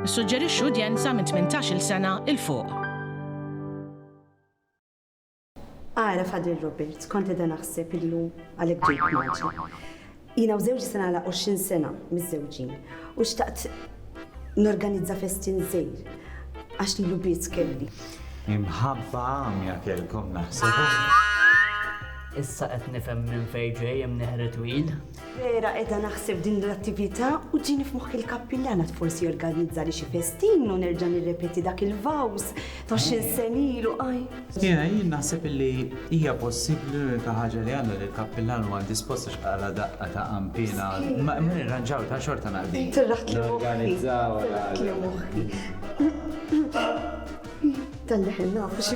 Nissuġġerixxu udjenza minn 18-il sena 'il fuq. Ara Father Robert, kont qiegħda naħseb illum għalhekk ġejt maġi. Jiena u żewġi se nagħlaq 20 sena miżżewġin u xtaqt Norganizza festin żgħir għax lilu biss kelli. Imħabba għamja kellkom naħseb. Issa qed nifhem minn fejn ġej hemm neħri twil. Vera qiegħda naħseb din l-attività u ġini f'moħħi l-kappillana forsi organizza li xi festin u nerġa' nirrepeti dak il-vaws Għoxrin sena ilu qajm. Jiena jien naħseb illi hija possibbli l-unika ħaġa li għandna li l-kappillan huwa indispost għax qala daqqa ta' qampina. Ma nirranġaw ta' xorta naqdi. Tirraħt li Organizzaw. Tirraħt li moħħi. Tal-leħen nafu xi.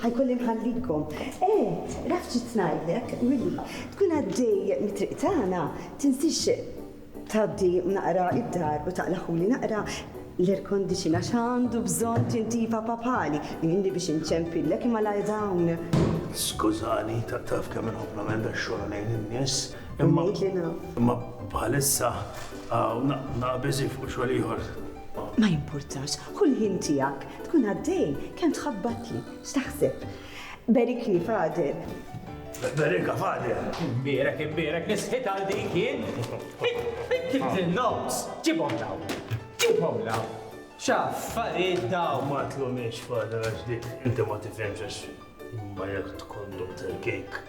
Ħa jkolli nħallikom. Eh, raf xi rid ngħidlek, Willy, tkun għaddej mit-triq tagħna, tinsiex tgħaddi naqra d-dar u taqlagħhuli naqra l-aircondition għax għandu bżonn tintifa papali. Għinni biex inċempillek imma la dawn. Skużani, taf kemm inħobb nagħmel dax-xogħol għalejn in-nies. Imma bħalissa naqbeżi fuq xogħol ieħor. Ma jimpurtax, ħu l-ħin tiegħek, tkun għaddej, kemm tħabbatli, x'taħseb? Berikni, Fader. Berika, Fader. Imbierek, imbierek, nisħit għal dik jien. Kif tinnoms? Ġibhom daw. Ġibhom daw. X'affarijiet daw. Ma tlumiex, Fader, għax dik inti ma tifhemx għax ma jekk tkun Dr. Kejk.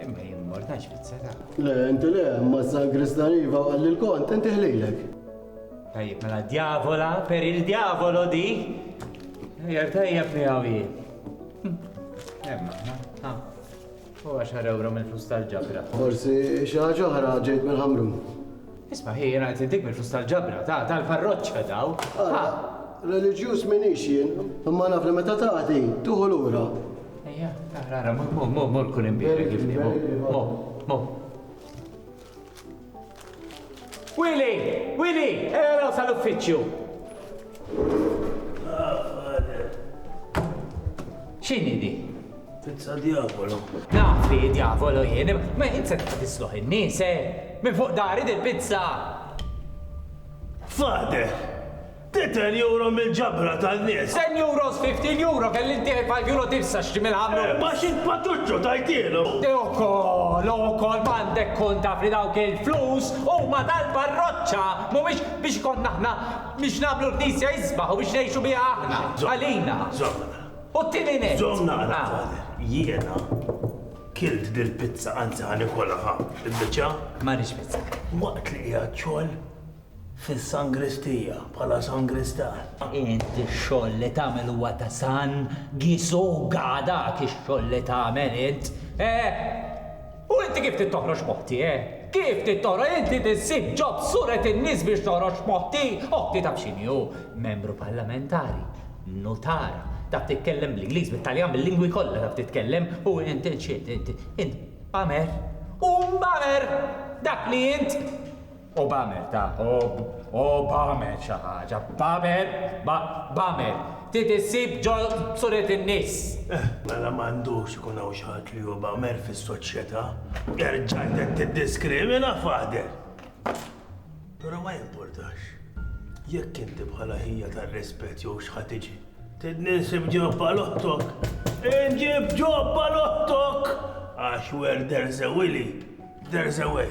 Imma jien mortax fit-seta. Le, inti le, imma z-zagris dariva għal il-kont, inti ħlilek. Tajjeb, mela djavola per il-djavolo di. Jer tajjeb mi għawi. Emma, ha, u għaxar euro mill-flus tal-ġabra. Forsi xaħġa ħra ġejt mill-ħamrun. Isma' hi jien għajtli dik bil-flus tal-ġabra, ta, tal-parroċċa daw, ha! Reliġjuż m'iniex jien, imma naf li meta tagħti, tieħu lura. Ejja, ara, ara, mur, mur, mur, mur kul imbierek kif inhi, mur, mur, mur. Willy! Willy! Ejja raw sal-uffiċċju! X'inhi di? Pizza diavolo. Naf li diavolo jien, ma jien se tisloħ in-nies, eh? Minn fuq dari dil-pizza! Fade! Ti 10 euro mill-ġabra tan-nies! 10 euros, 15 euro kelli ntieħi 5 euro tifsa x'ġi mill-ħamru! Eh, ma xi patuċċo tajtielu! Te ukoll, ukoll m'għandek kont taf li dawk il-flus huma tal-parroċċa, mhumiex biex konna aħna Biex nagħmlu l-Knisja isbaħ u biex ngħixu biha aħna, għalina. U t-tieni nett. Żomm naqra, Pater. Jiena kilt dil-pizza, anzi ħa nikolha, ħa, il-biċċa. Ma rridx pizza. Waqt li qiegħed xogħol fis-sangristija bħala sangristan. Inti x-xogħol li tagħmel huwa ta' San Gisuga, dak ix-xogħol li tagħmel int. Eh! U inti kif trid toħroġ moħti, eh? Kif trid toħroġ inti trid ssib ġob suret in-nies biex toħroġ moħti? Oħti taf x'inhi hu? Membru parlamentari, nutar, taf titkellem bl-Ingliż, bit-Taljan, bil-lingwi kollha taf titkellem u int x'int int? Int bamer! U bamer! Dak li int! O b'għamel ta' o o b'għamel xi ħaġa, b'għamel, b' b'għamel, trid issib ġo suret in-nies. Eh, mela m'għandux ikun hawn xi ħadd li hu b'għamel fis-soċjetà. Terġa' inti tiddiskrimina, Father! Però ma jimpurtax. Jekk inti bħala ħija tar-rispett jew x'ħa tiġi, tridni nsib ġobba l-oħtok, inġib ġobba l-oħtok! Għax where there's a willy, there's a way.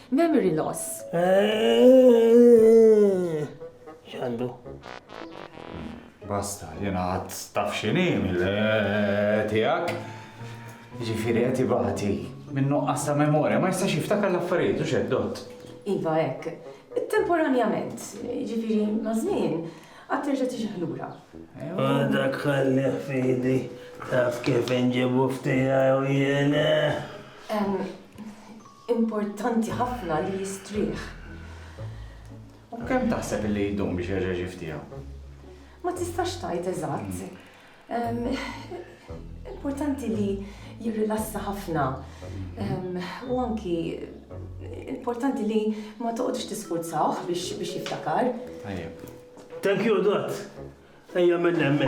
Memory loss. X'għandu? Basta, jena għad taf xini mill-tijak. Ġifiri għet ibati. Minnu għasta memoria, ma jistax jiftakar l-affarijiet u xeddot. Iva ek, temporanjament, ġifiri mażmin, għad terġa tiġi ħlura. Għadak ħalli fidi, taf kif nġibu ftija u jena. importanti ħafna li jistrieħ. U kemm taħseb li jdum biex jerġa' jiġi ftiegħu? Ma tistax tgħid eżatt. Importanti li jirrilassa ħafna. U anki importanti li ma toqgħodx tisfurzawh biex jiftakar. Thank you, Dott. Ejja minn hemmhekk.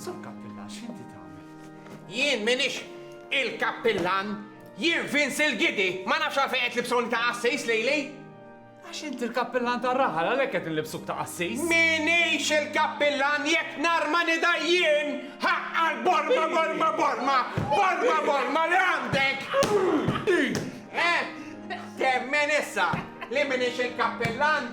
Sur Kappillan, x'inti tagħmel? Jien minix il-Kappillan, jien Vince il-Gidi, ma nafx għalfejn qed libsoni ta' qassis lejli. Għax inti l-Kappillan ta' raħal għalhekk qed nlibsuk ta' qassis. Minix il-Kappillan jekk nar ma nida jien ħaqqa l-borma borma borma borma borma li għandek. Eh, temmen issa li minix il-Kappillan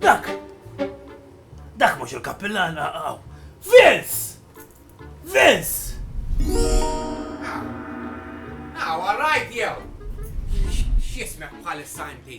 Dak! Dak mhux il-kappillan għaw! Vince! Vince! Għaw, għarrajt jew! X'jismek bħalissa inti?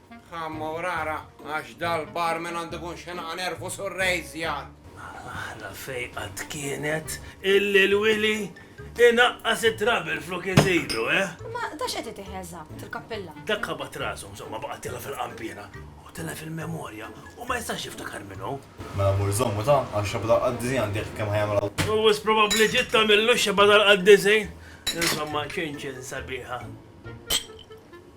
Ħa morara, għax dal-barman għandu jkun xenaq nervu sur Rejzjan! Aħla fejqa tkienet illi l-Wili inaqqas it-trouble flok iżidu, eh? Ma da x'qed itih eżatt, il-kappilla? Dak qabat rasu, insomma, baqgħet tilha fil-qanpiena u tilha fil-memorja u ma jistax jiftakar min hu. Mela mur żommu ta', għax xebgħa tal-qaddisin għandi jekk kemm ħajamel Alla. U wisq probabbli ġiet tagħmillu x-xebgħa tal-qaddisin. Insomma, ċinċin sabiħa.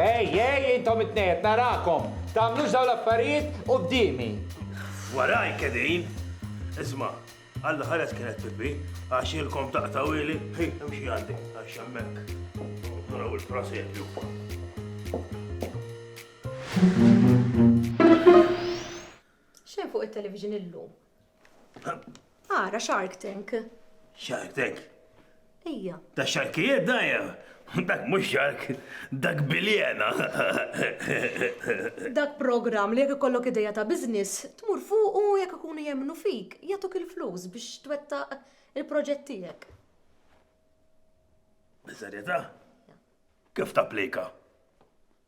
Ej, ej, intom it-tnejn qed narakom. Tagħmlux dawn l-affarijiet quddiemi. Waraj kedin. Isma', Alla ħares kienet pippi, għax ilkom taqtawili, hi, imxi għandi, għax hemmhekk. Naraw il-prosepju. Xejn fuq it-television illum. Ara Shark Tank. Shark Tank? Ejja. Ta' xarkijiet dajja. Dak mhux xark, dak biljena. Dak programm li jekk ikollok ideja ta' business, tmur fuq u jekk ikunu jemmnu fik, jagħtuk il-flus biex twettaq il-proġett tiegħek. Biżerjetà? Kif tapplika?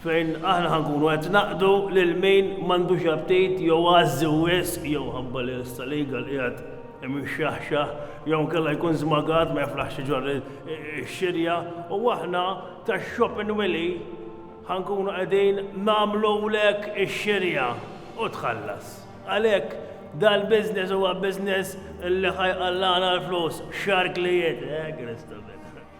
fejn aħna ħa nkunu qed naqdu lil min m'għandux aptit jew għażżi wisq jew ħabba li issa l-eagle qiegħed imixxaħxaħ jew inkella jkun żmagat ma jiflaħx iġorr ix-xirja u aħna tax-shop in Wili ħa nkunu qegħdin nagħmlulek ix-xirja u tħallas. Għalhekk dal-business huwa business li ħa jqallagħna l-flus x'arklijiet, eh Kristu!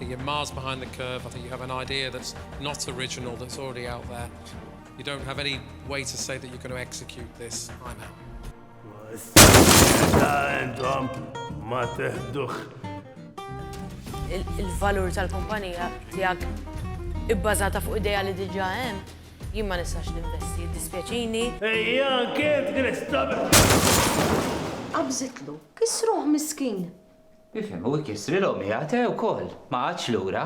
You're miles behind the curve. I think you have an idea that's not original, that's already out there. You don't have any way to say that you're going to execute this. I'm out. Il-valur tal-kumpanija tijak ibbażata fuq ideja li diġa hemm, jien ma nistax ninvesti, dispjaċini. Ejja, kif għristab? Qabżitlu, kisruħ miskin. Ifhem, u jkissrilhom hi għad, eh, ukoll, ma qagħadx lura.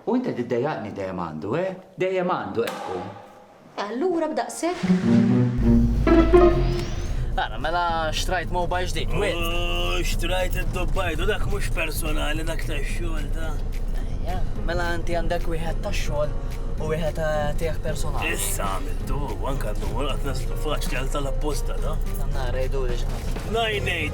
U int qed iddejjaqni dejjem għandu, eh, dejjem għandu qed tkun. Allura b'daqshekk? Ara, mela xtrajt mobile ġdid, wid. Oh, xtrajt id-dubbajdu, dak mhux personali, dak tax-xogħol da. Ejja, mela inti għandek wieħed tax-xogħol u wieħed eh, tiegħek personali. Issa għamiltu, anke għandu għolqat naslu faċli għal tal-apposta da. Samna rejdu li x'ħadd. Najnej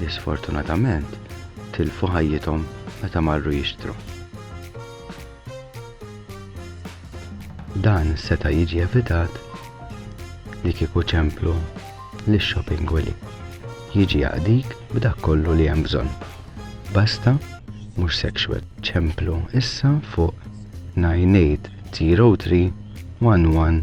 li sfortunatament tilfu ħajjithom meta marru jixtru. Dan seta' jiġi evitat li kieku ċemplu li shopping willy jiġi jaqdik b'dak kollu li hemm bżonn. Basta mhux sexual ċemplu issa fuq 9803 11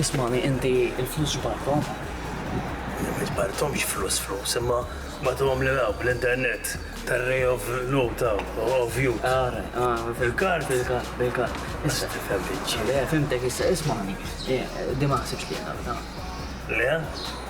Ismagħni inti l-flus x'barthom? Ma barthomx flus flus imma bagħtuhom lil hawn bl-internet tar-ray of note hawn of youth. Ara, ara. Bil-kard? Bil-kard, bil-kard. Issa tifhem biċċi. Le, fhimtek issa, ismagħni. Din ma naħsibx li hija nafda. Le?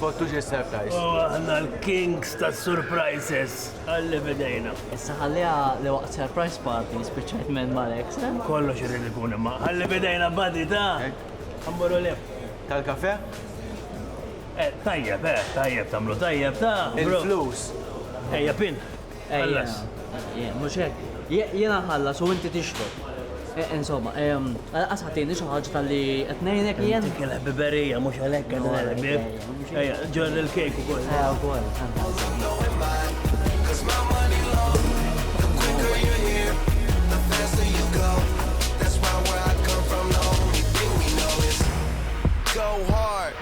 Kottu ġie surprise. Oh, aħna l-kings ta' surprises. Għalli bidejna. Issa ħalliha li waqt surprise party spiċċajt men Malek. Eh? Kollox irid ikun imma. Għalli bidejna badi ta' għamboru eh? lef. Tal-kafe? Eh, tajjeb, eh, tajjeb, tamlu tajjeb ta' il-flus. Ejja pin. Ħallas. Ejja, mhux hekk. Jiena nħallas u inti tixrob. E, insomma, għalqas ħatini xi ħaġa tal-li qed ngħinek jien. Inti kellha biberija mhux għalhekk qed ngħidlek bib. Ejja, ġor il-kejk ukoll. Ejja, ukoll. Go hard.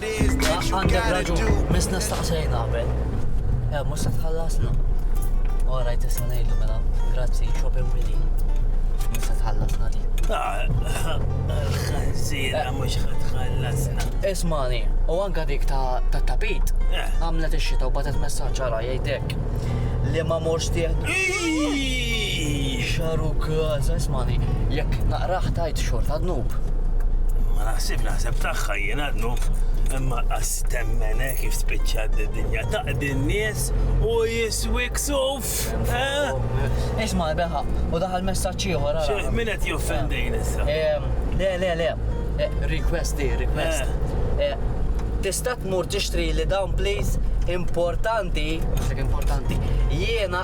Għandek raġun, misna staqsejna qabel. Ja, mhux se tħallasna. U rajt issa ngħidu mela, grazzi, Shopping Willy. Mhux se tħallasna li. Ħażira mhux se tħallasna. Ismani, u anka dik ta' tapit, eh. għamlet ix-xita u batet messaġġ ġara jgħidek li ma morx tieħdu. Ixaru kaza, ismani, jekk naqraħ tajt xort għadnub. Ma naħsib naħseb taħħa jien għadnub, imma għastemmene kif spiċċa d-dinja taqdi n-nies u jiswik suf. Eh? Isma, beħa, u daħal messaċ ieħor. Min qed joffendin issa? Le, le, le. Eh, request di, request. Eh. Tista' tmur tixtri li dawn please importanti, importanti, jiena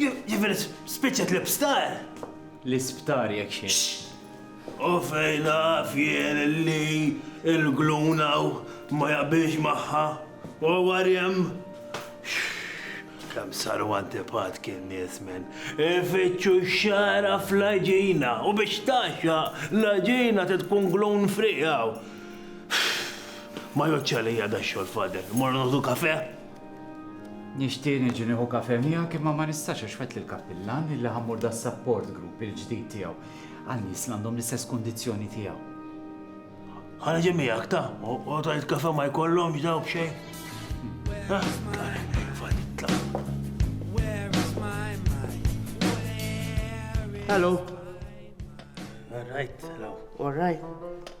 Jiġifieri spiċċet l-isptar? L-isptar jekk xejn. U fejn naf jien li l-gluna ma jaqbilx magħha u warjem. Kemm saru antipat kien nies minn ifittxu xara fl-ġina u biex taxxa l-ġina tkun glun frijaw. Ma joċċa li jada xogħol fader, morru noħdu kafe? Nixtieq niġi nieħu kafè miegħek imma ma nistax għax wegħdt lill-kappillan li li ħammur das-support group il-ġdid tiegħu għal nies li għandhom l-istess kundizzjoni tiegħu. Ħa niġi miegħek ta, u tajt kafè ma jkollhomx daw b'xejn. Hello. All right, hello. All right.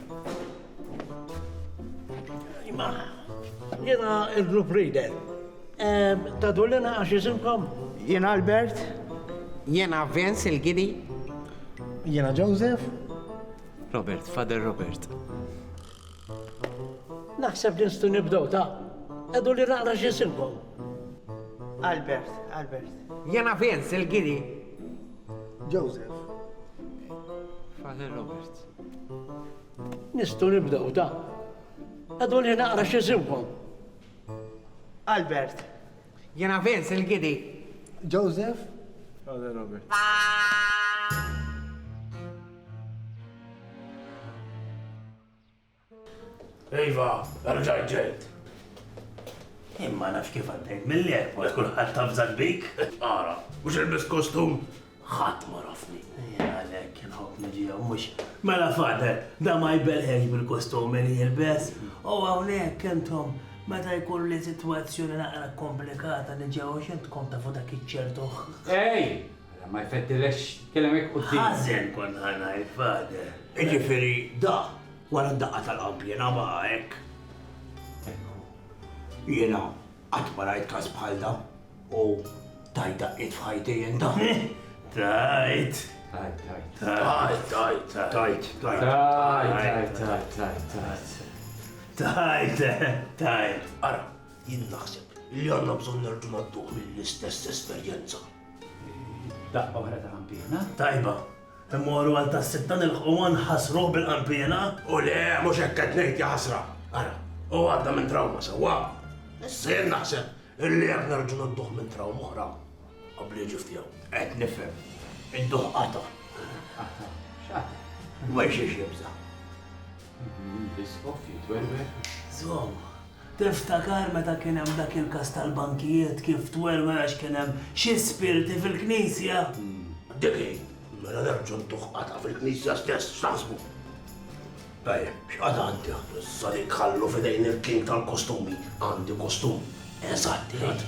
Ma, jena il-group reader. Ta' dullina għax jisimkom? Jena Albert. Jena Vince il-Gidi. Jena Joseph. Robert, Father Robert. Naħseb li nstu nibdow ta' edu li naqra xisimkom. Albert, Albert. Jena Vince il-Gidi. Joseph. Father Robert. Nistgħu nibdew da. Għadu li naqra xi żiwwa. Albert. Jiena Vince il-Gidi. Joseph. Għadu Robert. Iva, rġajt ġejt. Imma nafx kif għaddejt mill-airport kulħadd tafżak bik. Ara, mhux ilbis kostum, ħadd ma rafni. Għalhekk kien ħobb niġi hawn mhux. Mela fader, da ma jbelħex bil-kostum li jilbes. U hawnhekk intom meta jkun li sitwazzjoni naqra komplikata niġi hawn x'intkom tafu dak iċ-ċertu. Ej! Ara ma jfettilekx tkellem hekk quddiem. Ħażen kont ħa ngħid fader. Jiġifieri da Wara d-daqqa tal-qalb jiena baqa' hekk. Ekku. Jiena qatt ma rajt każ bħal da u tajt daqqiet f'ħajti jien ta'. Tajt. Tajt, tajt. Tajt, tajt, tajt. Tajt, tajt. Tajt, tajt, tajt, tajt. Tajt, tajt. Ara, jien naħseb li għandna bżonn nerġgħu ngħadduh mill-istess esperjenza. Daqqa oħra ta' ħampina. Tajba. Immorru għal tas-sitta nilħquha nħassruh bil-qanpiena? U le, mhux hekk qed ngħid, jaħasra! Ara, hu għadda minn trawma sewwa. Issa jien naħseb illi jekk nerġgħu nidduh minn trawma oħra, qabli jiġi f'tiegħu. Qed nifhem. Idduh qata'. Qata'? X'qata'? Minn xiex jibża'? L-Iskof jitwerwer żgomm. Tiftakar meta kien hemm dak il-każ tal-bankijiet kif twerwer għax kien hemm xi spirti fil-knisja? Dik hi! Mela nerġgħu ntuh qatgħa fil-knisja stess, x'taħsbu? Tajjeb, x'qagħda għandi hawn issa li nħallu f'idejn il-king tal-kostumi? Għandi kostum eżatt, qiegħed.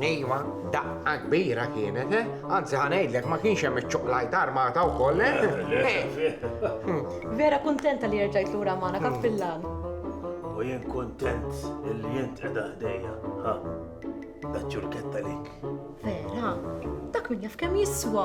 Iva, daqqa kbira kienet, eh? Anzi ħa ngħidlek ma kienx hemm iċ-ċoqlajta armata wkoll, eh? Vera kuntenta li erġajt lura magħna kappillan. U jien kuntent li jint qiegħda ħdejja, ha? Daċċurketta lik. Vera, dak min jaf kemm jiswa.